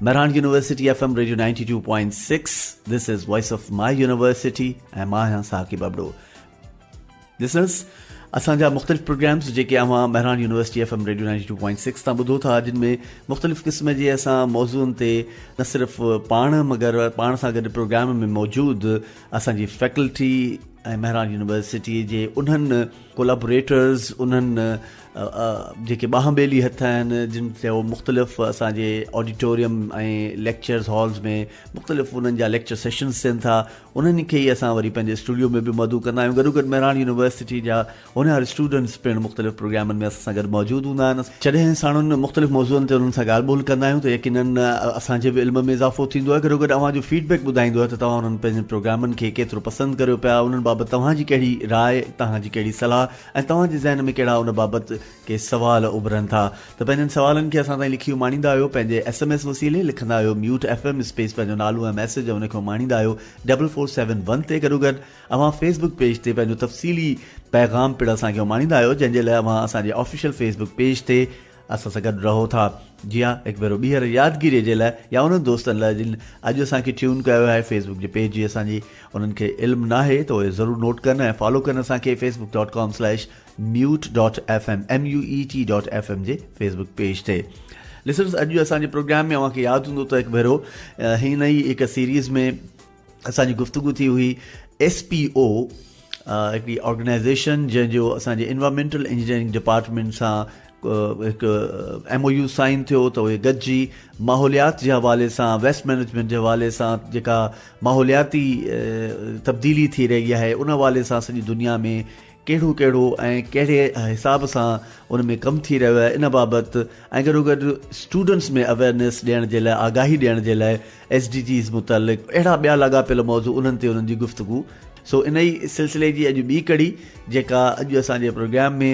Mehran university F M radio ninety two point six this is voice of my university ۽ مان آهيان Saqib Abro listeners اسان جا مختلف پروگرامز جيڪي اوهان Mehran university F M radio ninety two point six تان ٻڌو ٿا جن ۾ مختلف قسم جي اسان موضوعن تي نه صرف پاڻ مگر پاڻ سان گڏ پروگرام ۾ موجود اسان جي فيڪلٽي ۽ مهراڻ يونيورسٽي جي انهن ڪولابوريٽرز انهن جيڪي ٻانهن ٻيلي هٿ آهن جن تي هو مختلف اسان جي آڊيٽوريم ۽ ليڪچرز هالز ۾ مختلف انهن جا ليڪچر سيشنز ٿين ٿا انهن کي ئي اسان وري پنهنجي اسٽوڊيو ۾ به مدعو ڪندا آهيون گڏو گڏ مهراڻ يونيورسٽي جا هونهار اسٽوڊنٽس پڻ مختلف پروگرامن ۾ اسان سان گڏ موجود هوندا آهن جڏهن ساڻن مختلف موضوعن تي انهن سان ڳالهه ٻولهه ڪندا آهيون ته يقينن اسان جي به علم ۾ اضافو ٿيندو آهي گڏو گڏ اوهان جو فيڊ بيڪ ٻڌائيندو آهي ته توهان انهن پنهنجن پروگرامن کي ڪيترو پسند ڪريو پيا انهن بابت توهان جي ڪهڙي راء توهان جي ڪهڙي صلاح ۽ توهان جي ذهن ۾ ڪهڙا ان بابت ڪي سوال اڀرن ٿا ته پنهنجن سوالن کي اسان تائين لکي اماڻيندا آهيو پنهنجي ايس ايم ايس وسيلي لکندا آهيو ميوٽ ايف ايم اسپيس پنهنجو نالو ۽ ميسيج ۽ ان کي اماڻيندا آهيو ڊبل فور سيون ون تي گڏوگڏ اوهان فيس بڪ پيج تي پنهنجو تفصيلي پيغام پڻ اسان کي اماڻيندا آهيو جنهن جي لاء اوهان اسان جي آفيشل فيس بڪ پيج تي اسان سان گڏ رهو ٿا جي ها هڪ ڀيرو ٻيهر يادگيري جي لاء يا انهن دوستن لاء جن اڄ اسان کي ٽيون ڪيو آهي فيس بڪ جي پيج جي اسان جي انهن کي علم ناهي ته اهي ضرور نوٽ ڪن ۽ فالو ڪن اسان کي Facebook dot com slash MUET dot F M M U E T dot F M جي فيس بڪ پيج تي لسنرز اڄ اسان جي پروگرام ۾ اوهان کي ياد هوندو ته هڪ ڀيرو هن ئي هڪ سيريز ۾ اسان جي گفتگو ٿي هئي ايس پي او هڪڙي آرگنائزيشن جنهن جو اسان جي انوائرمينٽل انجنيئرنگ ڊپارٽمنٽ سان هڪ ايم او يو سائن ٿيو ته اهي گڏجي ماحوليات جي حوالي سان ويسٽ مينجمنٽ جي حوالي سان جيڪا ماحولياتي تبديلي ٿي رهي آهي ان حوالي سان سڄي دنيا ۾ ڪهڙو ڪهڙو ۽ ڪهڙي حساب سان ان ۾ ڪم ٿي رهيو آهي ان بابت ۽ گڏوگڏ اسٽوڊنٽس ۾ اويئرنيس ڏيڻ جي لاء آگاهي ڏيڻ جي لاء ايس ڊي جيز متعلق اهڙا ٻيا لاڳاپيل موضوع انهن تي انهن جي گفتگو سو انهي سلسلي جي اڄ ٻي ڪڙي جيڪا اڄ اسان جي پروگرام ۾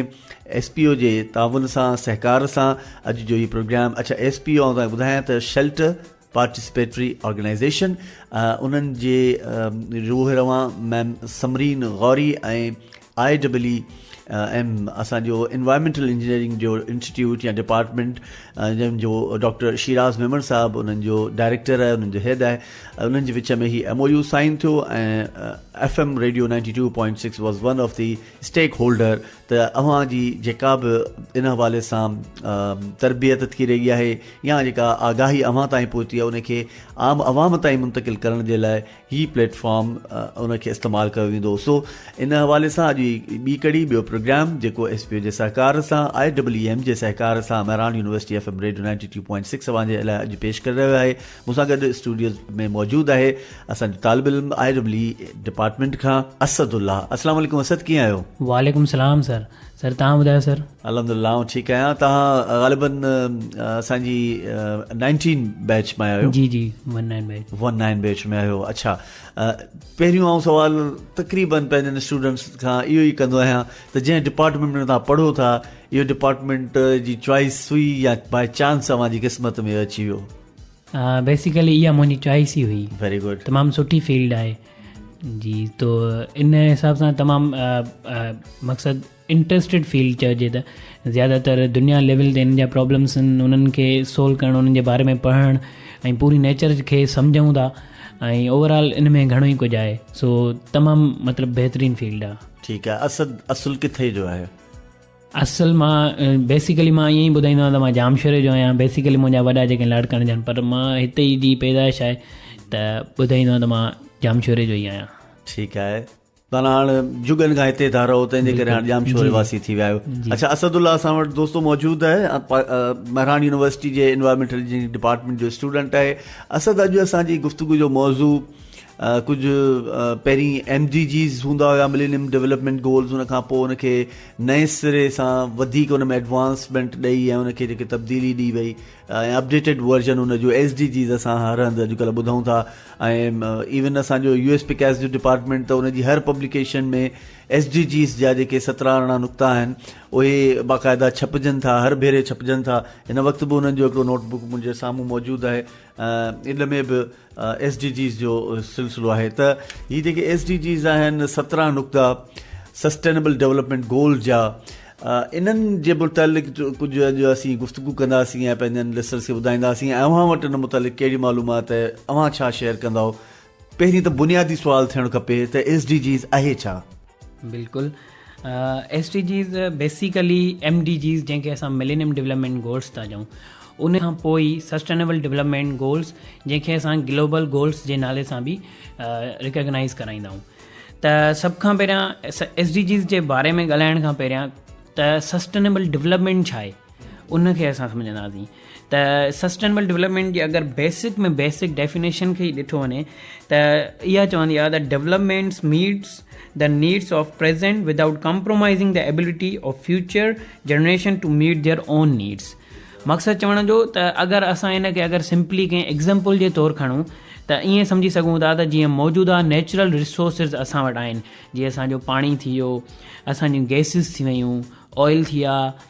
ايس پي او جي تعاون سان سهڪار سان اڄ جو هي پروگرام اڇا ايس پي او آئون تهانکي ٻڌايان ته شيلٽر پارٽيسپيٽري آرگنائيزيشن انهن جي روح روان ma'am Samreen Ghauri ۽ I double E M اسان جو انوائرمينٽل انجنيئرنگ جو انسٽيٽيوٽ يا ڊپارٽمنٽ جن جو ڊاڪٽر شيراز ميمڻ صاحب انهن جو ڊائريڪٽر آهي انهن جو هيڊ آهي انهن جي وچ ۾ هي ايم او يو سائن ٿيو ۽ F M radio ninety two point six was one of the stakeholder ته اوهان جي جيڪا به ان حوالي سان تربيت ٿي رهي آهي يا جيڪا آگاهي اوهان تائين پهتي آهي ان کي عام عوام تائين منتقل ڪرڻ جي لاء هي پليٽ فارم ان کي استعمال ڪيو ويندو سو ان حوالي سان اڄ ٻي ڪڙي ٻيو پروگرام جيڪو ايس پي او جي سهڪار سان آء ڊبليو ايم جي سهڪار سان Mehran university F M radio ninety two point six اوهان جي لاء اڄ پيش ڪري رهيو آهي مون سان گڏ اسٽوڊيو ۾ موجود آهي اسان جو طالب علم آء ڊبل اي ڊپارٽمينٽ کان اسد الله اسلام عليڪم اسد ڪيئن آهيو. وعليڪم السلام سر سر تهان ٻڌايو سر. الحمدلله آئون ٺيڪ آهيان تهان غالباً اسان جي نائنٽين بيچ مان آهيو. جي جي one nine batch. One nine batch ۾ آهيو اڇا پهريون آئون سوال تقريباً پنهنجن اسٽوڊنٽس کان اهو ئي ڪندو آهيان ته جنهن ڊپارٽمينٽ ۾ تهان پڙهو ٿا اهو ڊپارٽمينٽ جي چوائس هئي يا باء چانس اوهان جي قسمت ۾ اچي ويو. بيسيڪلي اها منهنجي چوائس ئي هئي ويري گڊ تمام سٺي فيلڊ آهي جي تو ان حساب سان تمام مقصد انٽرسٽيڊ فيلڊ چئجي ته زیادہ تر دنيا لیول تي ان جا پرابلمس آهن انهن کي سولو ڪرڻ انهن جي باري ۾ پڙهڻ ۽ پوري نيچر کي سمجھون ٿا ۽ اوورآل ان ۾ گھڻو ئي ڪجھه آهي سو تمام مطلب بهترين فيلڊ آهي ٺيڪ آهي اسد اصل ڪٿي جو آهي اصل مان بيسيڪلي مان ائين ئي ٻڌائيندو آهيان ته مان ڄامشوري جو آهيان بيسيڪلي منهنجا وڏا جيڪي لاڙڪاڻي جا آهن پر مان هتي ئي جي پيدائش آهي ته ٻڌائيندو آهيان ته مان ڄامشوري جو ئي آهيان ٺيڪ آهي تان هاڻ جڳن کان هتي ٿا رهو تنهنجي ڪري هاڻ ڄامشوري واسي ٿي ويا آهيو اڇا اسد الله اسان وٽ دوستو موجود آهي مهراڻ يونيورسٽي جي انوائرمينٽل انجنيئرنگ ڊپارٽمينٽ جو اسٽوڊنٽ آهي اسد اڄ اسان جي گفتگو جو موضوع ڪجهه پهرين ايم ڊي جيز هوندا هيا ملينيم ڊيولپمينٽ گولز ان کان پوء ان کي نئين سري سان وڌيڪ ان ۾ ايڊوانسمينٽ ڏئي ۽ ان کي جيڪي تبديلي ڏي وئي ۽ اپڊيٽيڊ ورجن ان جو ايس ڊي جيز اسان هر هنڌ اڄڪلهه ٻڌون ٿا ۽ ايون اسان جو يو ايس پي ڪيس جو ڊپارٽمينٽ ته ان جي هر پبليڪيشن ۾ ايس ڊي جيز جا جيڪي سترا ارڙهن نقطا آهن اهي باقاعده ڇپجن ٿا هر ڀيري ڇپجن ٿا هن وقت به انهن جو هڪڙو نوٽ بڪ منهنجي سامهون موجود آهي ايڊ ۾ به ايس ڊي جيز جو سلسلو آهي ته هي جيڪي ايس ڊي جيز آهن سترهن نقطا سسٽينبل ڊيولپمينٽ گول جا انهن جي متعلق ڪجهه اڄ اسين گفتگو ڪنداسين ۽ پنهنجن لسنرس کي ٻڌائينداسين اوهان وٽ ان متعلق ڪهڙي معلومات اوهان ڇا شيئر ڪنداو پهرين ته بنيادي سوال ٿيڻ کپي ته ايس ڊي جيز اهي ڇا؟ بلڪل S D Gs basically M D Gs جنهن کي اسان ملينيم ڊولپمينٽ گولس ٿا چئون ان کان پوء ئي سسٽينيبل ڊولپمينٽ گولس جنهن کي اسان گلوبل گولس جي نالي سان به ريڪگنائز ڪرائيندا آهيون ته سڀ کان پهريان ايس ڊي جيز جي باري ۾ ڳالهائڻ کان پهريان ته سسٽينيبل ڊولپمينٽ ڇا آهي ان کي اسان سمجهنداسين ته سسٽينبل ڊولپمينٽ جي اگر بيسڪ ۾ بيسڪ ڊيفينيشن کي ئي ڏٺو وڃي ته اها چوندي آهي ته developments meets the needs of present without compromising the ability of future generation to meet their own needs مقصد چوڻ جو ته اگر اسان ان کي اگر سمپلي ڪنهن ايگزامپل جي طور کڻون ته ائين سمجهي سگهون ٿا ته جيئن موجوده نيچرل رسورسز اسان وٽ آهن جيئن اسانجو پاڻي ٿي ويو اسانجون گيسز ٿي ويون آئل ٿي ويا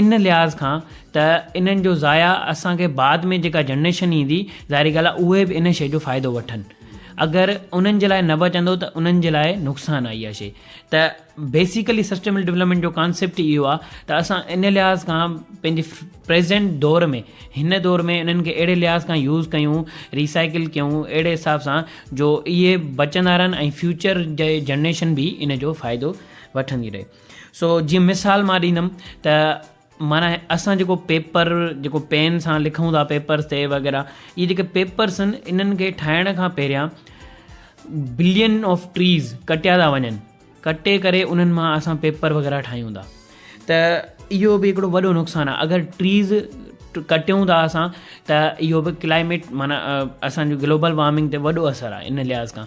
ان لحاظ کان ته انهن جو ضايع اسان کي بعد ۾ جيڪا جنريشن ايندي ظاهري ڳالهه آهي اهي به ان شيء جو فائدو وٺن اگر انهن جي لاء نه بچندو ته انهن جي لاء نقصان آهي اها شيء ته بيسيڪلي سسٽيمل ڊولپمينٽ جو ڪانسيپٽ اهو آهي ته اسان ان لحاظ کان پنهنجي پريزينٽ دور ۾ هن دور ۾ انهن کي اهڙي لحاظ کان يوز ڪيون ريسائيڪل ڪيون اهڙي حساب سان جو اهي بچندا رهن ۽ فيوچر جي جنريشن به ان جو فائدو وٺندي رهي سو جيئن مثال مان ڏيندم ته معنيٰ اسان جيڪو پيپر جيڪو پين سان لکون ٿا پيپرس تي وغيرہ اي جيڪي پيپرس ان انن کي ٺاهڻ کان پهريان بلين آف ٽريز ڪٽيا ٿا وڃن ڪٽي ڪري انن مان اسان پيپر وغيرہ ٺاهيون ٿا ته اهو به هڪڙو وڏو نقصان آهي اگر ٽريز ڪٽيون ٿا اسان ته اهو به ڪلائميٽ معنيٰ اسانجو گلوبل وارمنگ تي وڏو اثر آهي ان لحاظ کان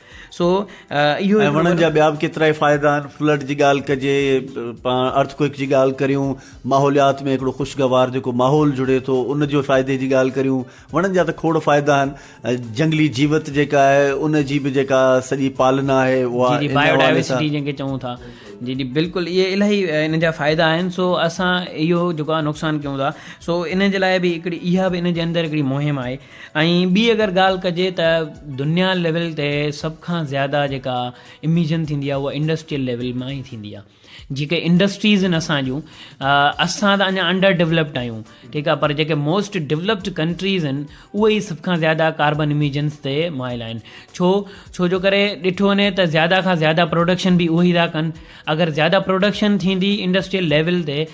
سو اهو هڪڙو وڏو. ۽ وڻن جا ٻيا به ڪيترائي فائدا آهن فلڊ جي ڳالهه ڪجي پاڻ ارٿ ڪوئڪ جي ڳالهه ڪريون ماحوليات ۾ هڪڙو خوشگوار جيڪو ماحول جڙي ٿو ان جو فائدي جي ڳالهه ڪريون وڻن جا ته کوڙ فائدا آهن جنگلي جيوت جيڪا آهي ان جي به جيڪا سڄي پالنا آهي اها جي جي بائيو ڊائيورسٽي جنهن کي چئون ٿا جي جي بلڪل اهي الاهي ان جا فائدا آهن سو اسان اهو جيڪو آهي نقصان ڪيون ٿا سو ان جي لاء به هڪڙي اها به ان جي اندر هڪڙي مهم آهي ۽ ٻي اگر ڳالهه ڪجي ته دنيا ليول تي سڀ کان زياده جيڪا اميجن ٿيندي آهي اها انڊسٽريل ليول مان ئي ٿيندي آهي جيڪي انڊسٽريز آهن اسان جون اسان ته اڃا انڊر ڊيولپڊ آهيون ٺيڪ آهي پر جيڪي موسٽ ڊيولپڊ ڪنٽريز آهن اهي ئي سڀ کان زياده ڪاربن اميجنس تي مائل آهن ڇو ڇو جو ڪري ڏٺو وڃي ته زياده کان زياده پروڊڪشن به اهي ئي ٿا ڪن اگر زياده پروڊڪشن ٿيندي انڊسٽريل ليول تي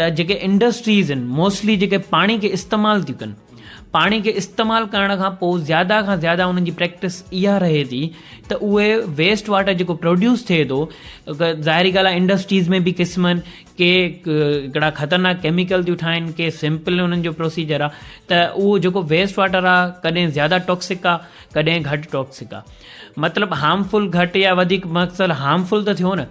ته جيڪي انڊسٽريز ان موسٽلي جيڪي پاڻي کي استعمال ٿيون ڪن پاڻي کي استعمال ڪرڻ کان پوء زياده کان زياده انهن جي پريڪٽس اها رهي ٿي ته اهي ويسٽ واٽر جيڪو پروڊيوس ٿئي ٿو ظاهري ڳالهه آهي انڊسٽريز ۾ به قسمن ڪي هڪڙا خطرناڪ ڪيميڪل ٿيون ٺاهن ڪي سمپل انهن جو پروسيجر آ ته اهو جيڪو ويسٽ واٽر آ ڪڏهن زياده ٽاڪسڪ آ ڪڏهن گهٽ ٽاڪسڪ آ مطلب هارمفل گهٽ يا وڌيڪ مقصد هارمفل ته ٿيو نه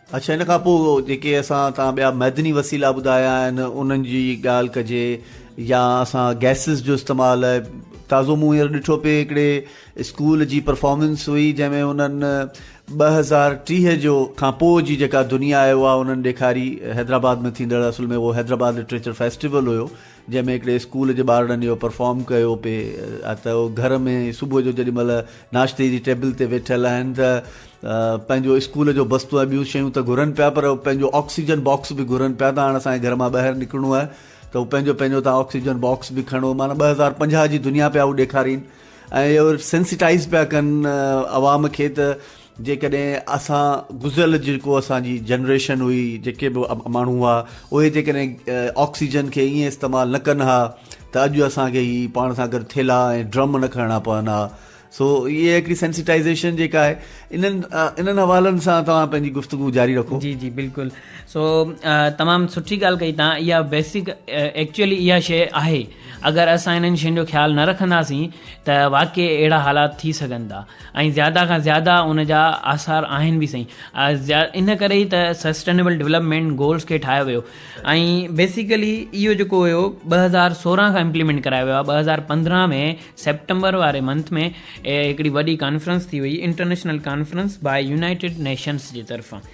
اڇا ان کان پوء جيڪي اسان تان ٻيا معدني وسيلا ٻڌايا آهن انهن جي ڳالهه ڪجي يا اسان گيسز جو استعمال تازو مون هينئر ڏٺو پئي هڪڙي اسڪول جي پرفارمنس هئي جنهن ۾ انهن ٻه هزار ٽيهه جو کان پوء جي جيڪا دنيا آهي اها انهن ڏيکاري حيدرآباد ۾ ٿيندڙ اصل ۾ اهو حيدرآباد لٽريچر فيسٽيول هيو جنهن ۾ هڪڙي اسڪول جي ٻارڙن اهو پرفارم ڪيو پئي ته هو گهر ۾ صبح جو جيڏي مهل ناشتي جي ٽيبل تي ويٺل آهن ته پنهنجو اسڪول جو بستو ۽ ٻيون شيون ته گهرن پيا پر پنهنجو آڪسيجن باڪس به گهرن پيا ته هاڻ اسان کي گهر مان ٻاهر نڪرڻو آهي ته هو پنهنجو پنهنجو تان آڪسيجن باڪس به کڻو معنيٰ ٻه هزار پنجاهه جي دنيا پيا هو ڏيکارين ۽ سينسيٽائز پيا ڪن عوام کي ته جيڪڏهن اسان گذريل جيڪو اسان جي جنريشن هئي جيڪي به ماڻهو هئا اهي جيڪڏهن آڪسيجن کي ائين استعمال نه ڪن ها ته اڄ اسان کي هي پاڻ سان گڏ ٿيلها ۽ ڊرم نه کڻڻا پون ها سو هي هڪڙي سينسيٽائزيشن جيڪا آهي انهن انهن حوالن سان توهان پنهنجي گفتگو جاري رکو جي جي بلڪل سو تمام سٺي ڳالهه ڪئي توهان اها بيسڪ ايڪچولي اها شيء آهي اگر اسان انهن شين جو خيال نه رکنداسين ته واقعي اهڙا حالات ٿي سگهن ٿا ۽ زياده کان زياده ان جا آثار آهن به سائين ان ڪري ئي ته سسٽينيبل ڊولپمينٽ گولز کي ٺاهيو ويو ۽ بيسيڪلي اهو جيڪو هيو ٻه هزار سورهن کان امپليمينٽ ڪرايو ويو آهي ٻه هزار پندرهن ۾ سيپٽمبر واري منٿ ۾ هڪڙي وڏي ڪانفرنس ٿي هئي international conference by United Nations جي طرفان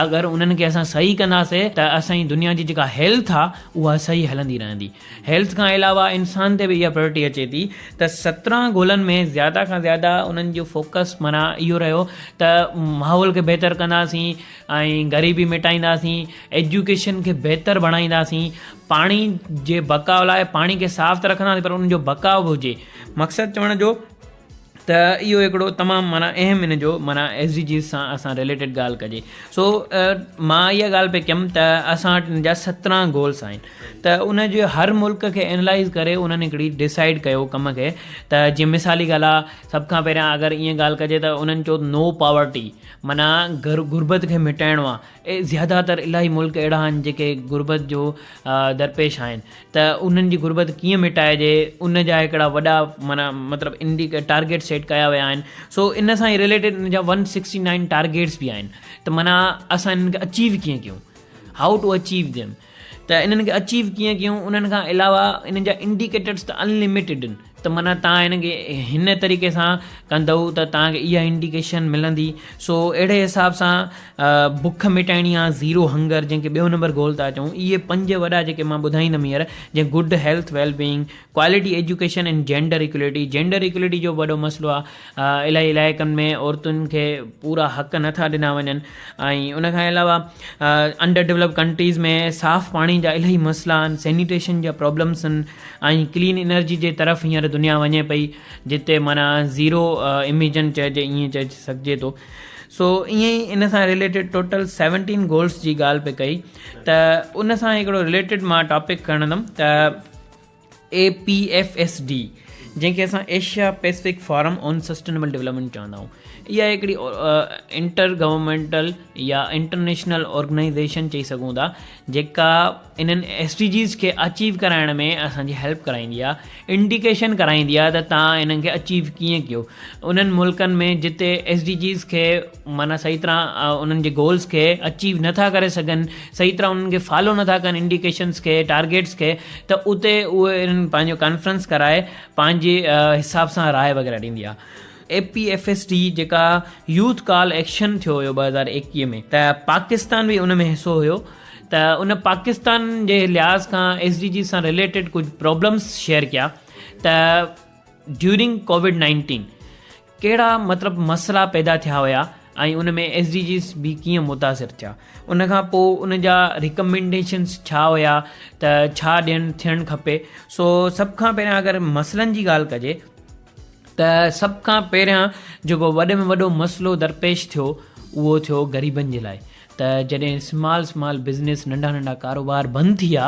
اگر انهن کي اسان صحيح ڪنداسي ته اسان جي دنيا جي جيڪا هيلٿ آ اها صحيح هلندي رهندي. هيلٿ کان علاوه انسان تي به اها پريورٽي اچي ٿي ته سترهن گولن ۾ زياده کان زياده انهن جو فوڪس معنيٰ اهو رهيو ته ماحول کي بهتر ڪنداسين ۽ غريبي مٽائينداسين ايجوڪيشن کي بهتر بڻائينداسين پاڻي جي بقاء لاء پاڻي کي صاف ته رکنداسين پر ان جو بقاء به هجي مقصد چوڻ جو ته اهو هڪڙو تمام معنيٰ اهم ان جو معنيٰ ايس ڊي جيز سان اسان رليٽيڊ ڳالهه ڪجي سو مان اها ڳالهه پئي ڪيم ته اسان وٽ ان جا سترهن گولس آهن ته ان جي هر ملڪ کي اينالائز ڪري انهن هڪڙي ڊسائيڊ ڪيو ڪم کي ته جيئن مثالي ڳالهه آهي سڀ کان پهريان اگر ائين ڳالهه ڪجي ته انهن چيو نو پاورٽي معنيٰ گھر غربت کي مٽائڻو آهي زياده تر الاهي ملڪ اهڙا آهن جيڪي غربت جو درپيش آهن ته انهن جي غربت ڪيئن مٽائجي ان جا هڪڙا وڏا معنيٰ مطلب ان جي ٽارگيٽ سيٽ ڪيا ويا آهن سو ان سان ريليٽيڊ ان جا ون سڪسٽي نائن ٽارگيٽس به آهن ته معنيٰ اسان انهن کي اچيو ڪيئن ڪيون هائو ٽو اچيو ديم ته انهن کي اچيو ڪيئن ڪيون انهن کان علاوه انهن جا انڊيڪيٽرس ته انلميٽيڊ آهن ته معنيٰ توهان هن کي هن طريقي سان ڪندؤ ته توهان کي اها انڊيڪيشن ملندي سو اهڙي حساب سان بک مٽائڻي آهي زيرو هنگر جنهن کي ٻيو نمبر گول ٿا چئون اهي پنج وڏا جيڪي مان ٻڌائيندم هينئر جيئن good health well being quality education and gender equality gender equality جو وڏو مسئلو آهي الائي علائقن ۾ عورتن کي پورا حق نٿا ڏنا وڃن ۽ ان کان علاوه انڊر ڊيولپ ڪنٽريز ۾ صاف پاڻي جا الائي مسئلا آهن سينيٽيشن جا پرابلمس آهن ۽ ڪلين انرجي جي طرف هينئر دنيا وڃي پئي جتي معنيٰ زيرو اميجن چئجي ائين چئي سگهجي ٿو سو ائين ئي ان سان رليٽيڊ ٽوٽل سيونٽين گولس جي ڳالهه پئي ڪئي ته ان سان هڪڙو رليٽيڊ مان ٽاپڪ کڻندم ته A P F S D جنهن کي اسان Asia Pacific forum on sustainable development چوندا آهيون اها هڪڙي انٽر گورمنٽل يا انٽرنيشنل آرگنائزيشن چئي سگهون ٿا جيڪا انهن ايس ڊي جيز کي اچيو ڪرائڻ ۾ اسان جي هيلپ ڪرائيندي آهي انڊيڪيشن ڪرائيندي آهي ته تهان انهن کي اچيو ڪيئن ڪيو انهن ملڪن ۾ جتي ايس ڊي جيز کي معنيٰ صحيح طرح انهن جي گولز کي اچيو نٿا ڪري سگهن صحيح طرح انهن کي فالو نٿا ڪن انڊيڪيشنز کي ٽارگيٽس کي ته اتي اهي انهن پنهنجو ڪانفرنس ڪرائي پنهنجي حساب سان راء وغيره ڏيندي آهي A P F S D جيڪا يوٿ ڪال ايڪشن ٿيو هيو ٻه هزار ايڪويهه ۾ ته پاڪستان به ان ۾ حصو هيو ته ان پاڪستان جي لحاظ کان ايس ڊي جي سان ريليٽيڊ ڪجهه پرابلمس شيئر ڪيا ته ڊيورنگ ڪوويڊ نائنٽين ڪهڙا مطلب مسئلا پيدا ٿيا هيا ۽ ان ۾ ايس ڊي جيز به ڪيئن متاثر ٿيا ان کان پوء ان جا ريڪمينڊيشنس ڇا هيا ته ڇا ڏيڻ ٿيڻ کپي سو سڀ کان پهريان اگر مسئلن جي ڳالهه ڪجي ته سڀ کان پهريان جيڪو وڏي ۾ وڏو مسئلو درپيش ٿيو اهو ٿيو غريبن جي لاء ته جڏهن سمال سمال بزنس ننڍا ننڍا ڪاروبار بند ٿي ويا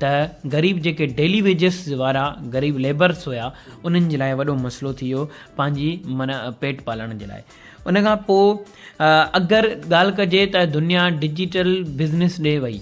ته غريب جيڪي ڊيلي ويجس وارا غريب ليبرس هيا انهن جي لاء وڏو مسئلو ٿي ويو پنهنجي من پيٽ پالڻ جي لاء ان کان پوء اگر ڳالهه ڪجي ته دنيا ڊجيٽل بزنس ڏي وئي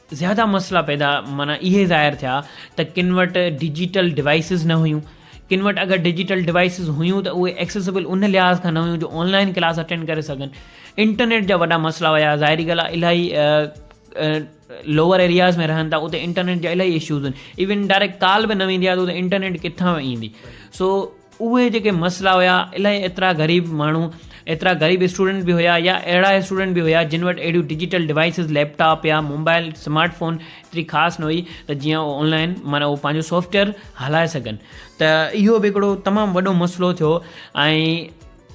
زياده مسئلا پيدا معنيٰ اهي ظاهر ٿيا ته ڪن وٽ ڊجيٽل ڊوائسز نه هيون، ڪن وٽ اگر ڊجيٽل ڊوائسز هيون ته اهي ايڪسيسبل ان لحاظ کان نه هيون جو آن لائن ڪلاس اٽينڊ ڪري سگهن، انٽرنيٽ جا وڏا مسئلا هيا، ظاهري ڳالهه آهي الاهي لوور ايرياز ۾ رهن ٿا اتي انٽرنيٽ جا الاهي اشوز هن ايون ڊائريڪٽ ڪال به نه ويندي آهي ته اتي انٽرنيٽ ڪٿان ايندي سو اهي جيڪي مسئلا هيا الائي ايترا غريب ماڻهو ايترا غريب اسٽوڊنٽ به هيا يا اهڙا اسٽوڊنٽ به هيا جن وٽ اهڙيون ڊجيٽل ڊوائسز ليپ ٽاپ يا موبائل سمارٽ فون ايتري خاص نه هئي ته جيئن اهو آنلائن معنيٰ اهو پنهنجو سافٽويئر هلائي سگهن ته اهو به هڪڙو تمام وڏو مسئلو ٿيو ۽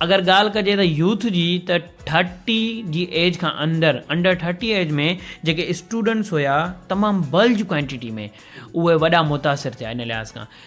اگر ڳالهه ڪجي ته يوٿ جي ته ٿرٽي جي ايج کان اندر انڊر ٿرٽي ايج ۾ جيڪي اسٽوڊنٽس هيا تمام بلج ڪوانٽيٽي ۾ اهي وڏا متاثر ٿيا ان لحاظ کان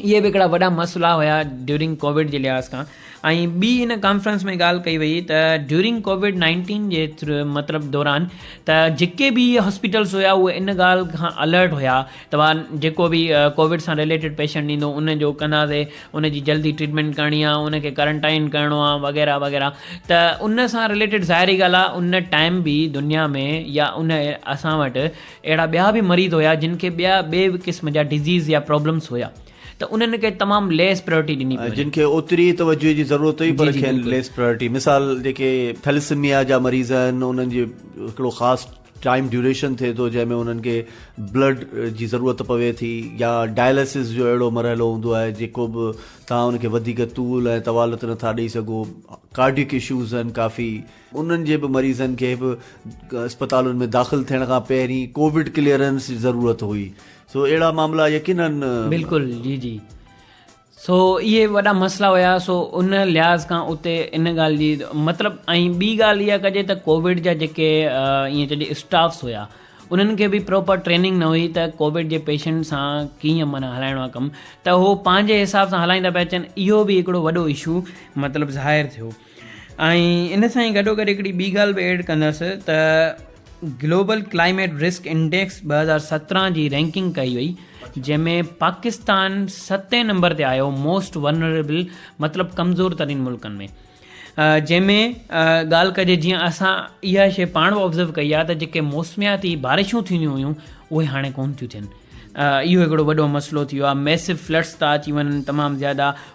اهي به هڪڙا وڏا مسئلا هيا ڊيورنگ ڪووڊ جي لحاظ کان ۽ ٻي ان ڪانفرنس ۾ ڳالهه ڪئي وئي ته ڊيورنگ ڪووڊ نائنٽين جي مطلب دوران ته جيڪي به اهي هاسپيٽلس هيا اهي ان ڳالهه کان الرٽ هيا ته وا جيڪو به ڪووڊ سان رليٽيڊ پيشنٽ ايندو ان جو ڪنداسي ان جي جلدي ٽريٽمينٽ ڪرڻي آ ان کي ڪرنٽائن ڪرڻو آ وغيره وغيره ته ان سان رليٽيڊ ظاهري ڳالهه آ ان ٽائيم به دنيا ۾ يا ان اسان وٽ اهڙا ٻيا به مريض هيا جن کي ٻيا ٻئي به قسم جا ڊزيز يا پرابلمس هيا ته انهن کي تمام ليس پريورٽي ڏني پئي وڃي. جن کي اوتري توجهه جي ضرورت هئي پر کين ليس پريورٽي مثال جيڪي ٿيلسميا جا مريض آهن انهن جي هڪڙو خاص ٽائيم ڊيوريشن ٿئي ٿو جنهن ۾ انهن کي بلڊ جي ضرورت پوي ٿي يا ڊائلسز جو اهڙو مرحلو هوندو آهي جيڪو به توهان ان کي وڌيڪ طول ۽ طوالت نٿا ڏئي سگهو ڪارڊيڪ اشوز آهن ڪافي انهن جي به مريضن کي به اسپتالن ۾ داخل ٿيڻ کان پهرين ڪووڊ ڪليئرنس جي ضرورت هئي سو اهڙا معاملا يقينن بلڪل جي جي سو اهي وڏا مسئلا هيا سو ان لحاظ کان اتي ان ڳالهه جي مطلب ۽ ٻي ڳالهه اها ڪجي ته ڪووڊ جا جيڪي ائين چئجي اسٽافس هيا انهن کي به پروپر ٽريننگ نه هئي ته ڪووڊ جي پيشنٽ سان ڪيئن مانا هلائڻو آهي ڪم ته هو پنهنجي حساب سان هلائيندا پيا اچن اهو به هڪڙو وڏو اشو مطلب ظاهر ٿيو ۽ ان سان ئي گڏوگڏ هڪڙي ٻي ڳالهه به ايڊ ڪندس ته گلوبل ڪلائميٽ رسڪ انڊيڪس ٻه هزار سترهن جي رينڪنگ ڪئي وئي جنهن ۾ پاڪستان ستين نمبر تي آيو موسٽ ونريبل مطلب ڪمزور ترين ملڪن ۾ جنهن ۾ ڳالهه ڪجي جيئن اسان اها شي پاڻ به آبزرو ڪئي آهي ته جيڪي موسمياتي بارشون ٿينديون هيون اهي هاڻي ڪون ٿيون ٿين اهو هڪڙو وڏو مسئلو ٿي ويو آهي ميسو فلڊس ٿا اچي وڃن تمام زياده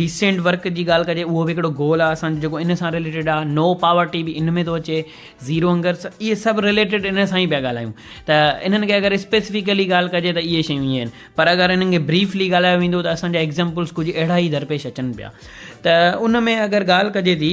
ڊيسنٽ ورڪ جي ڳالهه ڪجي اهو به هڪڙو گول آهي اسان جو جيڪو ان سان رليٽيڊ آهي نو پاورٽي به ان ۾ ٿو اچي زيرو هنگر اهي سڀ رليٽيڊ ان سان ئي پيا ڳالهايون ته انهن کي اگر اسپيسفڪلي ڳالهه ڪجي ته اهي شيون ائين آهن پر اگر انهن کي بريفلي ڳالهايو ويندو ته اسان جا ايگزامپلس ڪجهه اهڙا ئي درپيش اچن پيا ته ان ۾ اگر ڳالهه ڪجي ٿي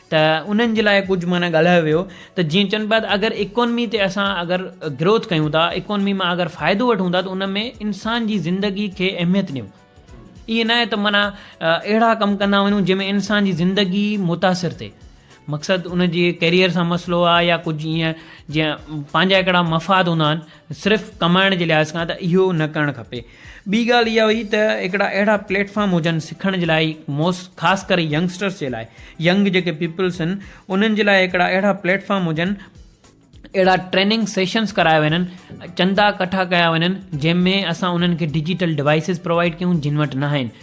ته انهن جي لاء ڪجهه معنيٰ ڳالهايو ويو ته جيئن چئن پيا ته اگر اڪانمي تي اسان اگر گروٿ ڪيون ٿا اڪانمي مان اگر فائدو وٺون ٿا ته ان ۾ انسان جي زندگي کي اهميت ڏيون ائين ناهي ته معنيٰ اهڙا ڪم ڪندا وڃون جنهن ۾ انسان جي زندگي متاثر ٿئي مقصد ان جي ڪيريئر سان مسئلو آهي يا ڪجهه ائين جيئن پنهنجا هڪڙا مفاد هوندا آهن صرف ڪمائڻ جي لحاظ کان ته اهو نه ڪرڻ کپي. ٻي ڳالهه اها هئي ته هڪڙا اهڙا پليٽ فارم هجن سکڻ جي لاء موس خاص ڪري ينگسٽرس جي لاء ينگ جيڪي پيپلس هن انهن جي لاء هڪڙا اهڙا پليٽ فارم هجن اهڙا ٽريننگ سيشنس ڪرايا وڃن چندا ڪٺا ڪيا وڃن جنهن ۾ اسان انهن کي ڊجيٽل ڊوائسز پرووائيڊ ڪيون جن وٽ نه آهن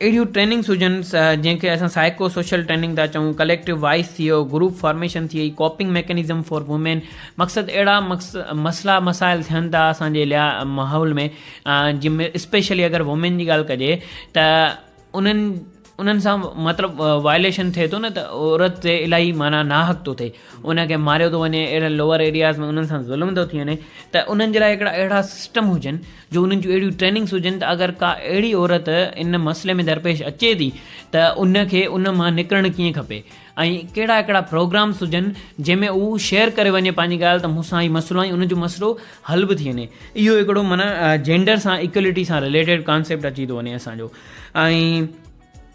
اهڙيون ٽريننگس هجن جنهن کي اسان سائيڪو سوشل ٽريننگ ٿا چئون، ڪليڪٽو وائس ٿي ويو، گروپ فارميشن ٿي وئي، ڪوپنگ ميڪنزم فار وومين، مقصد اهڙا مسئلا مسائل ٿين ٿا اسان جي ليا ماحول ۾ جن ۾ اسپيشلي اگر وومين جي ڳالهه ڪجي ته انهن انهن سان مطلب وائليشن ٿئي ٿو نه ته عورت تي الاهي معنيٰ ناحق ٿو ٿئي ان کي ماريو ٿو وڃي اهڙن لوور ايرياز ۾ انهن سان ظلم ٿو ٿي وڃي ته انهن جي لاء هڪڙا اهڙا سسٽم هجن جو انهن جون اهڙيون ٽريننگس هجن ته اگر ڪا اهڙي عورت ان مسئلي ۾ درپيش اچي ٿي ته ان کي ان مان نڪرڻ ڪيئن کپي ۽ ڪهڙا ڪهڙا پروگرامس هجن جنهن ۾ هو شيئر ڪري وڃي پنهنجي ڳالهه ته مون سان هي مسئلو ۽ ان جو مسئلو حل به ٿي وڃي اهو هڪڙو معنيٰ جينڊر سان اڪوليٽي سان رليٽيڊ ڪانسيپٽ اچي ٿو وڃي اسان جو ۽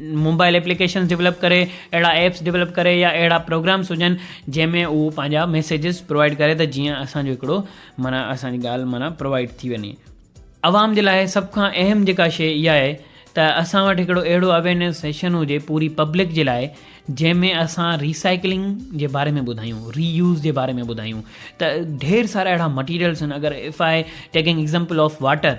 موبائل ايپليڪيشنز ڊولپ ڪري اهڙا ايپس ڊولپ ڪري يا اهڙا پروگرامز هجن جنهن ۾ هو پنهنجا ميسيجز پرووائيڊ ڪري ته جيئن اسانجو هڪڙو معنيٰ اسانجي ڳالهه معنيٰ پرووائيڊ ٿي وڃي عوام جي لاء سڀ کان اهم جيڪا شي اها آهي ته اسان وٽ هڪڙو اهڙو اويرنيس سيشن هجي پوري پبلڪ جي لاء جنهن ۾ اسان ريسائيڪلنگ جي باري ۾ ٻڌايون ري يوز جي باري ۾ ٻڌايون ته ڍير سارا اهڙا مٽيريلز آهن اگر if I taking example of water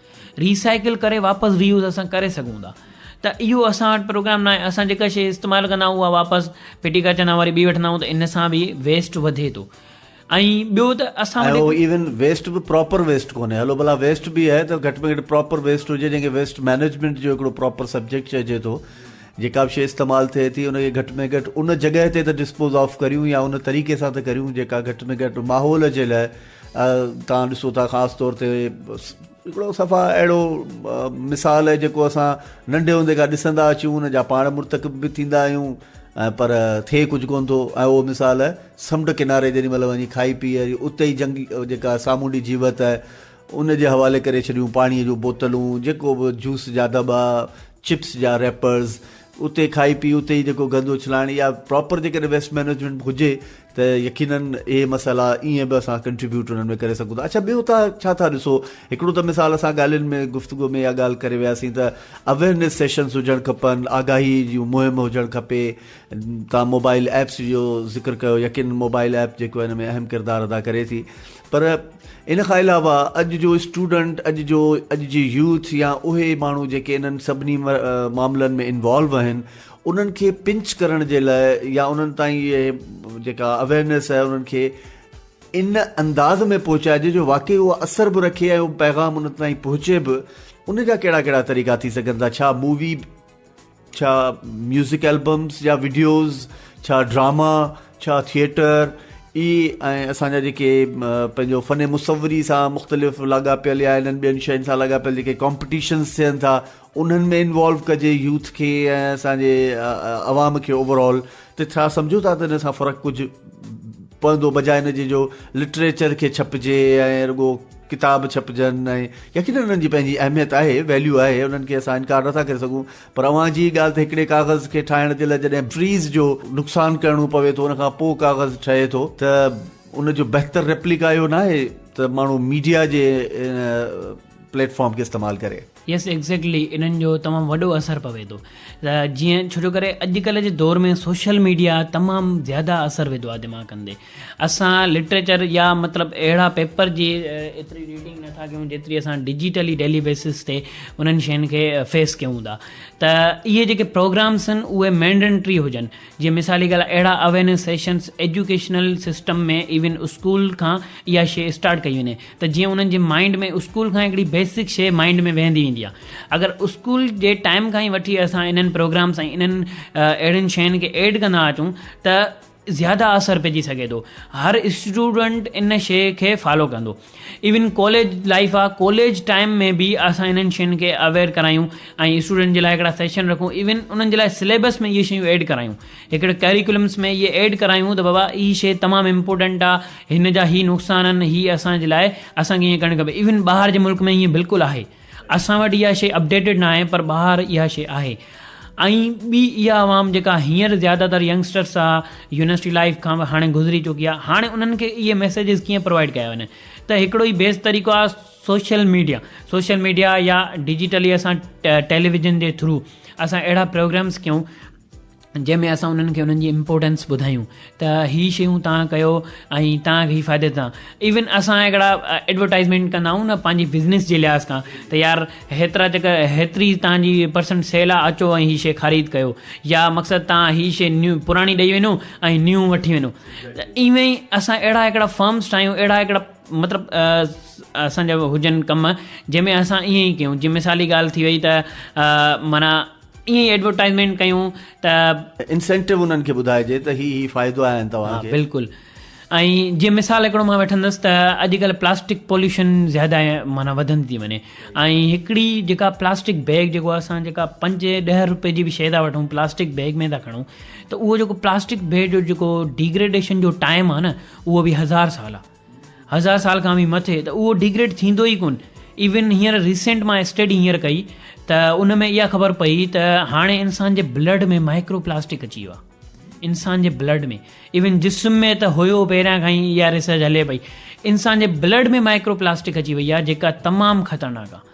recycle ڪري واپس ري يوز اسان ڪري سگهون ٿا ته اهو اسان وٽ پروگرام ناهي اسان جيڪا شيء استعمال ڪندا آهيون اها واپس ڦٽي ڪري ڇڏندا آهيون وري ٻي وٺندا آهيون ته ان سان به ويسٽ وڌي ٿو ۽ ٻيو ته اسان وٽ ۽ ايون ويسٽ به پراپر ويسٽ ڪونهي هلو ڀلا ويسٽ به آهي ته گهٽ ۾ گهٽ پراپر ويسٽ هجي جنهن کي ويسٽ مينيجمينٽ جو هڪڙو پراپر سبجيڪٽ چئجي ٿو جيڪا به شيء استعمال ٿئي ٿي ان کي گهٽ ۾ گهٽ ان جڳهه تي ته ڊسپوز آف ڪريون يا ان طريقي سان ته ڪريون جيڪا گهٽ ۾ گهٽ ماحول جي لاء توهان ڏسو ٿا خاص طور تي هڪڙو صفا اهڙو مثال آهي جيڪو اسان ننڍي هوندي کان ڏسندا اچون ان جا پاڻ مرتڪب به ٿيندا آهيون پر ٿئي ڪجهه ڪون ٿو ۽ اهو مثال سمنڊ ڪناري جيڏي مهل وڃي کائي پي اتي ئي جنگ جيڪا سامونڊي جيوت آهي ان جي حوالي ڪري ڇڏيون پاڻي جون بوتلون جيڪو به جوس جا دٻا چپس جا ريپرز اتي کائي پي اتي ئي جيڪو گند اڇلائڻ يا پراپر جيڪڏهن ويسٽ مينجمينٽ هجي ته يقيناً اهي مسئلا ائين به اسان ڪنٽريبيوٽ انهن ۾ ڪري سگهون ٿا. اڇا بيو تها ڇا ٿا ڏسو؟ هڪڙو ته مثال اسان ڳالهين ۾ گفتگو ۾ اها ڳالهه ڪري وياسين ته اويرنيس سيشنز هجڻ کپن، آگاهي جون مهم هجڻ کپي، تان موبائل ايپس جو ذڪر ڪيو يقيناً موبائل ايپ جيڪو ان ۾ اهم ڪردار ادا ڪري ٿي پر ان کان علاوه اڄ جو اسٽوڊنٽ اڄ جو اڄ جي يوٿ يا اهي ماڻهو جيڪي انهن سڀني معاملن ۾ انوالو آهن انهن کي پنچ ڪرڻ جي لاء يا انهن تائين اهي جيڪا اويرنيس آهي انهن کي ان انداز ۾ پهچائجي جو واقعي اهو اثر به رکي ۽ اهو پيغام ان تائين پهچي به ان جا ڪهڙا ڪهڙا طريقا ٿي سگهن ٿا ڇا مووي ڇا ميوزڪ البمس يا ويڊيوز ڇا ڊراما ڇا ٿيئٽر اي ۽ اسان جا جيڪي پنهنجو فن مصوري سان مختلف لاڳاپيل يا انهن ٻين شين سان لاڳاپيل جيڪي ڪامپيٽيشنس ٿين ٿا انهن ۾ انوالو ڪجي يوٿ کي ۽ اسان جي عوام کي اوور آل ته ڇا سمجهو ٿا ته ان سان فرق ڪجهه پوندو بجاء ان جي جو لٽريچر کي ڇپجي ۽ رڳو ڪتاب ڇپجن ۽ يقينن انهن جي پنهنجي اهميت آهي ويليو آهي انهن کي اسان انڪار نٿا ڪري سگهون پر اوهان جي ڳالهه ته هڪڙي ڪاغذ کي ٺاهڻ جي لاء جڏهن فريز جو نقصان ڪرڻو پوي ٿو ان کان پوء ڪاغذ ٺهي ٿو ته ان جو بهتر ريپليڪا اهو ناهي ته ماڻهو ميڊيا جي پليٽ فارم کي استعمال ڪري يس ايگزيڪٽلي انهن جو تمام وڏو اثر پوي ٿو جيئن ڇو جو ڪري اڄڪلهه جي دور ۾ سوشل ميڊيا تمام زياده اثر وڌو آهي دماغن تي اسان لٽريچر يا مطلب اهڙا پيپر جي ايتري ريڊنگ نٿا ڪيون جيتري اسان ڊجيٽلي ڊيلي بيسس تي انهن شين کي فيس ڪيون ٿا ته اهي جيڪي پروگرامس آهن اهي مينڊنٽري هجن جي مثالي ڳالهه اهڙا awareness sessions educational system ۾ even school کان اها شي اسٽارٽ ڪئي وڃي ته جيئن انهن جي مائنڊ ۾ اسڪول کان هڪڙي بيسڪ شيء مائنڊ ۾ ويهندي ويندي آهي اگر اسڪول جي ٽائيم کان ئي وٺي اسان انهن پروگرامس ۽ انهن اهڙين شين کي ايڊ ڪندا اچون ته زياده اثر پئجي سگهي ٿو هر اسٽوڊنٽ ان شيء کي فالو ڪندو ايون ڪاليج لائيف آهي ڪاليج ٽائيم ۾ به اسان انهن شين کي اويئر ڪرايون ۽ اسٽوڊنٽ جي لاء هڪڙا سيشن رکون ايون انهن جي لاء سليبس ۾ اهي شيون ايڊ ڪرايون هڪڙي ڪيريڪولمس ۾ اهي ايڊ ڪرايون ته بابا هي شي تمام امپورٽنٽ آ هن جا هي نقصان آهن هي اسان جي لاء اسان کي ائين ڪرڻ کپي ايون ٻاهر جي ملڪ ۾ ائين بلڪل آهي اسان وٽ اها شي اپڊيٽيڊ نه آهي پر ٻاهر اها شي آهي ۽ ٻي اها عوام جيڪا هينئر زياده تر ينگسٽرس آ يونيورسٽي لائف کان به هاڻي گذري چڪي آ هاڻي انهن کي اهي ميسيجز ڪيئن پرووائيڊ ڪيا وڃن ته هڪڙو ئي بيسٽ طريقو آ سوشل ميڊيا سوشل ميڊيا يا ڊجيٽلي اسان ٽيليويزن جي ٿرو اسان اهڙا پروگرامس ڪيون جنهن ۾ اسان انهن کي انهن جي امپورٽنس ٻڌايون ته هي شيون توهان ڪيو ۽ توهان کي هي فائدي ڏيندا ايون اسان هڪڙا ايڊورٽائزمينٽ ڪندا آهيون نه پنهنجي بزنس جي لحاظ کان ته يار هيترا چڪر هيتري توهانجي پرسنٽ سيل آهي اچو ۽ هي شي خريد ڪيو يا مقصد توهان هي شي نيو پراڻي ڏئي وڃو ۽ نيون وٺي وڃو ته ايون ئي اسان اهڙا هڪڙا فارمس ٺاهيون اهڙا هڪڙا مطلب اسانجا هجن ڪم جنهن ۾ اسان ائين ئي ڪيون جي مثالي ڳالهه ٿي وئي ته معنيٰ ائين ئي ايڊورٽائيزمينٽ ڪيون ته. انسينٽو انهن کي ٻڌائجي ته هي هي فائدو آهن توهان کي. ها بلڪل ۽ جيئن مثال هڪڙو مان وٺندس ته اڄڪلهه پلاسٽڪ پوليوشن زياده معنيٰ وڌندي ٿي وڃي ۽ هڪڙي جيڪا پلاسٽڪ بيگ جيڪو اسان جيڪا پنج ڏهه روپئي جي به شي ٿا وٺون پلاسٽڪ بيگ ۾ ٿا کڻون ته اهو جيڪو پلاسٽڪ بيگ جو جيڪو ڊيگريڊيشن جو ٽائيم آهي نه اهو به هزار سال آهي هزار سال کان به مٿي ته اهو ڊيگريڊ ٿيندو ئي ڪون ايون هينئر ريسينٽ مان اسٽڊي هينئر ڪئي ته ان ۾ اها خبر پئي ته هاڻي انسان جي بلڊ ۾ مائڪرو پلاسٽڪ اچي ويو آهي انسان جي بلڊ ۾ ايون جسم ۾ ته هيو پهريان کان ئي اها ريسرچ هلي پئي انسان جي بلڊ ۾ مائڪرو پلاسٽڪ اچي وئي آهي جيڪا تمام خطرناڪ آهي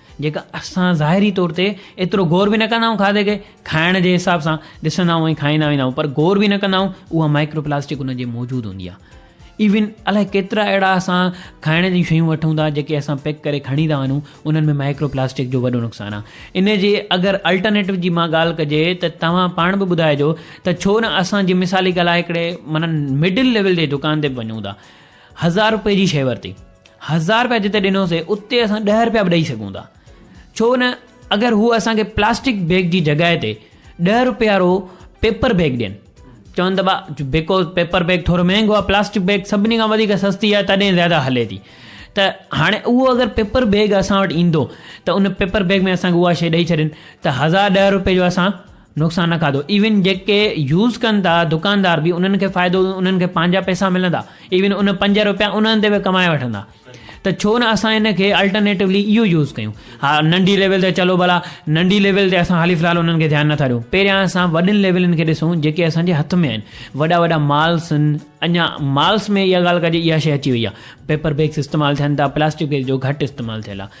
جيڪا اسان ظاهري طور تي ايترو غور به نه ڪندا آهيون کاڌي کي کائڻ جي حساب سان ڏسندا آهيون ۽ کائيندا ويندا آهيون پر غور به نه ڪندا آهيون اها مائڪرو پلاسٽڪ ان جي موجود هوندي آهي ايون الاء ڪيترا اهڙا اسان کائڻ جون شيون وٺون ٿا جيڪي اسان پيڪ ڪري کڻي ٿا وڃون انهن ۾ مائڪرو پلاسٽڪ جو وڏو نقصان آهي ان جي اگر الٽرنيٽو جي مان ڳالهه ڪجي ته توهان پاڻ به ٻڌائجو ته ڇو نه اسان جي مثالي ڳالهه هڪڙي مانا مڊل ليول جي دڪان تي به وڃون ٿا هزار روپئي جي شيء ورتي هزار روپيا جتي ڏنوسي اتي اسان ڏهه روپيا به ڏئي سگهون ٿا ڇو نه اگر هو اسان کي پلاسٽڪ بيگ جي جڳهه تي ڏهه روپيا وارو پيپر بيگ ڏين چون ته با بيڪوز پيپر بيگ ٿورو مهنگو آ پلاسٽڪ بيگ سڀني کان وڌيڪ سستي آ تڏهن زياده هلي ٿي ته هاڻي اهو اگر پيپر بيگ اسان وٽ ايندو ته ان پيپر بيگ ۾ اسان کي اها شيء ڏئي ڇڏين ته هزار ڏهه روپئي جو اسان نقصان نه کاڌو ايون جيڪي يوز ڪن ٿا دڪاندار به انهن کي فائدو انهن کي پنهنجا پئسا ملندا ايون ان پنج روپيا انهن تي به ڪمائي وٺندا ته ڇو نه اسان ان کي الٽرنيٽولي اهو يوز ڪيون ها ننڍي ليول تي چلو ڀلا ننڍي ليول تي اسان حالي فلحال انهن کي ڌيان نٿا ڏيون پهريان اسان وڏين ليولن کي ڏسون جيڪي اسان جي هٿ ۾ آهن وڏا وڏا مالس آهن اڃا مالس ۾ اها ڳالهه ڪجي اها شي اچي وئي آهي پيپر بيگس استعمال ٿين ٿا پلاسٽڪ بيگ جو گهٽ استعمال ٿيل آهي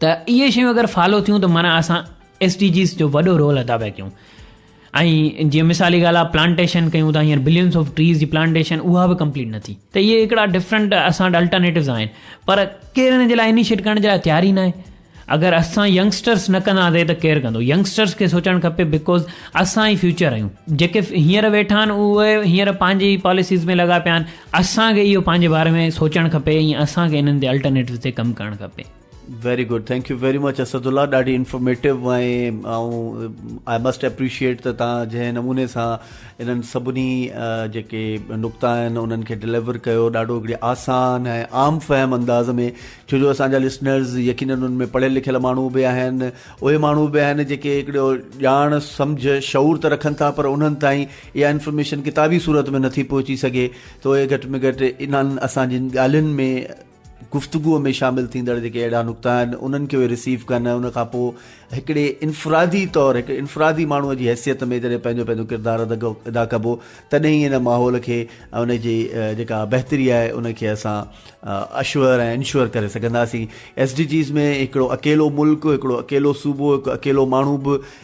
ته اهي شيون اگر فالو ٿيون ته معنيٰ اسان ايس ڊي جيز جو وڏو رول ادا پيا ڪيون ۽ جيئن مثالي ڳالھ آ پلانٽيشن ڪيون ٿا ھينئر بلينس آف ٽريز جي پلانٽيشن اها به ڪمپليٽ نه ٿي ته اهي هڪڙا ڊفرنٽ اسان وٽ الٽرنيٽوز آهن پر ڪير ان جي لاء انيشيٽ ڪرڻ جي لاء تيار ئي ناهي اگر اسان ينگسٽرس نه ڪنداسين ته ڪير ڪندو ينگسٽرس کي سوچڻ کپي بڪوز اسان ئي فيوچر آهيون جيڪي هينئر ويٺا آهن اهي هينئر پنهنجي پاليسيز ۾ لڳا پيا آهن اسان کي اهو پنهنجي باري ۾ سوچڻ کپي ۽ اسان کي انهن تي الٽرنيٽوز تي ڪم ڪرڻ کپي. Very good thank you very much Asadullah ڏاڍي انفارميٽو ۽ آئون آء مسٽ اپريشيئيٽ ته تان جنهن نموني سان انهن سڀني جيڪي نقطا آهن انهن کي ڊليور ڪيو ڏاڍو هڪڙي آسان ۽ عام فهم انداز ۾ ڇو جو اسان جا لسنرز يقينن انهن ۾ پڙهيل لکيل ماڻهو به آهن اهي ماڻهو به آهن جيڪي هڪڙو ڄاڻ سمجھ شعور ته رکن ٿا پر انهن تائين اها انفارميشن ڪتابي صورت ۾ نٿي پهچي سگهي ته اهي گهٽ ۾ گهٽ انهن اسان جن ڳالهين ۾ گفتگو ۾ شامل ٿيندڙ جيڪي اهڙا نقطا آهن انهن کي اهي رسيو ڪن ان کان پوء هڪڙي انفرادي طور هڪ انفرادي ماڻهو جي حيثيت ۾ جڏهن پنهنجو پنهنجو ڪردار ادا ڪبو تڏهن ئي ان ماحول کي ان جي جيڪا بهتري آهي ان کي اسان اشور ۽ انشور ڪري سگهنداسين ايس ڊي جيز ۾ هڪڙو اڪيلو ملڪ هڪڙو اڪيلو صوبو هڪ اڪيلو ماڻهو به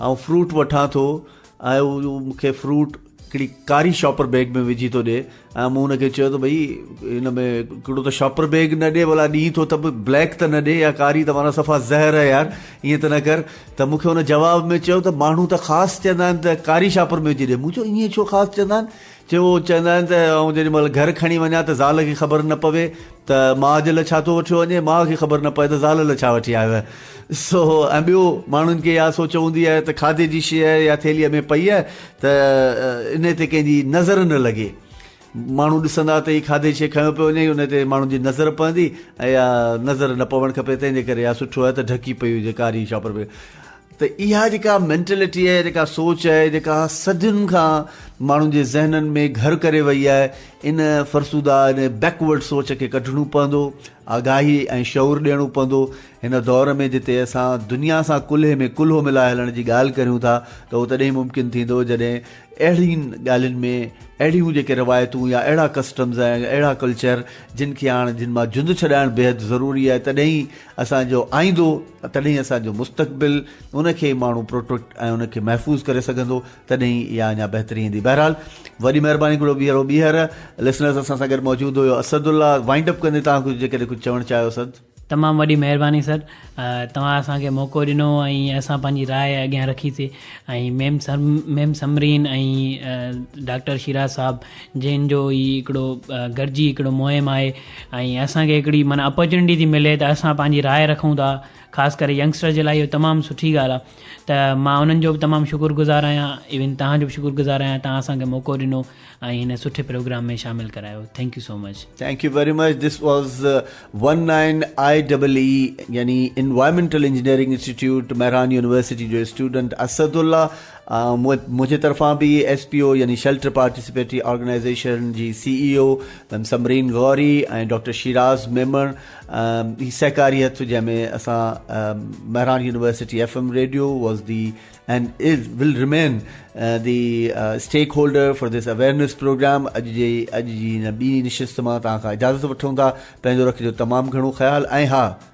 آئون فروٽ وٺان ٿو ۽ هو مون کي فروٽ هڪڙي ڪاري شاپر بيگ ۾ وجهي ٿو ڏي ۽ مون هن کي چيو ته ڀئي هن ۾ هڪڙو ته شاپر بيگ نه ڏي ڀلا ڏي ٿو ته به بليڪ ته نه ڏي يا ڪاري ته مانا صفا زهر آهي يار ائين ته نه ڪر ته مون کي هن جواب ۾ چيو ته ماڻهو ته خاص چوندا آهن ته ڪاري شاپر ۾ وجهي ڏي مون چيو ائين ڇو خاص چوندا آهن جي هو چوندا آهن ته آئون جيڏي مهل گهر کڻي وڃان ته زال کي خبر نه پوي ته ماء جي لاء ڇا ٿو وٺيو وڃي، ماء کي خبر نه پوي ته زال لاء ڇا وٺي آيو آهي. سو ۽ ٻيو ماڻهن کي اها سوچ هوندي آهي ته کاڌي جي شيء يا ٿيلهيء ۾ پئي آهي ته انهيء تي ڪنهن جي نظر نه لڳي. ماڻهو ڏسندا ته هي کاڌي شيء کنيو پيو وڃي انهيء تي ماڻهن جي نظر پوندي ۽ اها نظر نه پوڻ کپي تنهن جي ڪري اها سٺو آهي ته ڍڪي پئي هجي ڪاري شاپر ۾. ته اها جيڪا مينٽلٽي آهي جيڪا سوچ آهي جيڪا صدين کان ماڻهن جي ذهنن ۾ گهر ڪري وئي آهي ان فرسوده ان بيڪورڊ سوچ کي ڪڍڻو پوندو آگاهي ۽ شعور ڏيڻو پوندو هن دور ۾ جتي اسان دنيا سان ڪلهي ۾ ڪلهو ملائي هلڻ جي ڳالهه ڪريون ٿا ته اهو تڏهن ممڪن ٿيندو جڏهن اهڙين ڳالهين ۾ اهڙيون جيڪي روايتون يا اهڙا ڪسٽمز ۽ اهڙا ڪلچر جن کي هاڻ جن مان جند ڇڏائڻ بيحد ضروري آهي تڏهن ئي اسان جو آئيندو تڏهن اسان جو مستقبل ان کي ماڻهو پروٽيڪٽ ۽ ان کي محفوظ ڪري سگهندو تڏهن ئي اها اڃا بهتري ايندي بهرحال وڏي مهرباني گهرو بيهرو بيهر لسنرز اسان سان گڏ موجود هيو اسد الله وائنڊ اپ ڪندي تان کي جيڪڏهن ڪجهه چوڻ چاهيو اسد تمام وڏي مهرباني سر توهان اسان کي موقعو ڏنو ۽ اسان پنهنجي راء اڳيان رکي سي ۽ ميم سم ميم سمرين ۽ ڊاڪٽر شيراز صاحب جنهن جو هي هڪڙو گڏجي هڪڙو مهم آهي ۽ اسان کي هڪڙي معنيٰ اپرچونيٽي ٿي ملي ته اسان پنهنجي راء رکون ٿا خاص ڪري ينگسٽر جي لاء اهو تمام سٺي ڳالهه آهي ته مان انهن جو بھ تمام شڪر گذار آهيان ايون توهان جو بھ شڪر گذار آهيان توهان اسانکي موقعو ڏنو ۽ هن سٺي پروگرام ۾ شامل ڪرايو thank you so much. Thank you very much this was one nine I double E يعني environmental engineering institute Mehran university جو اسٽوڊنٽ اسد الله منهنجي طرفان به ايس پي او يعني شيلٽر پارٽيسپيٽري آرگنائيزيشن جي C E O Samreen Ghori ۽ doctor Shiraz Memon هي سهڪاري هٿ جنهن ۾ اسان Mehran university F M radio was the and is will remain uh, the uh, stakeholder for this awareness program اڄ جي اڄ جي هن ٻي نشست مان تان کان اجازت وٺون ٿا پنهنجو رکجو تمام گهڻو خيال ۽ ها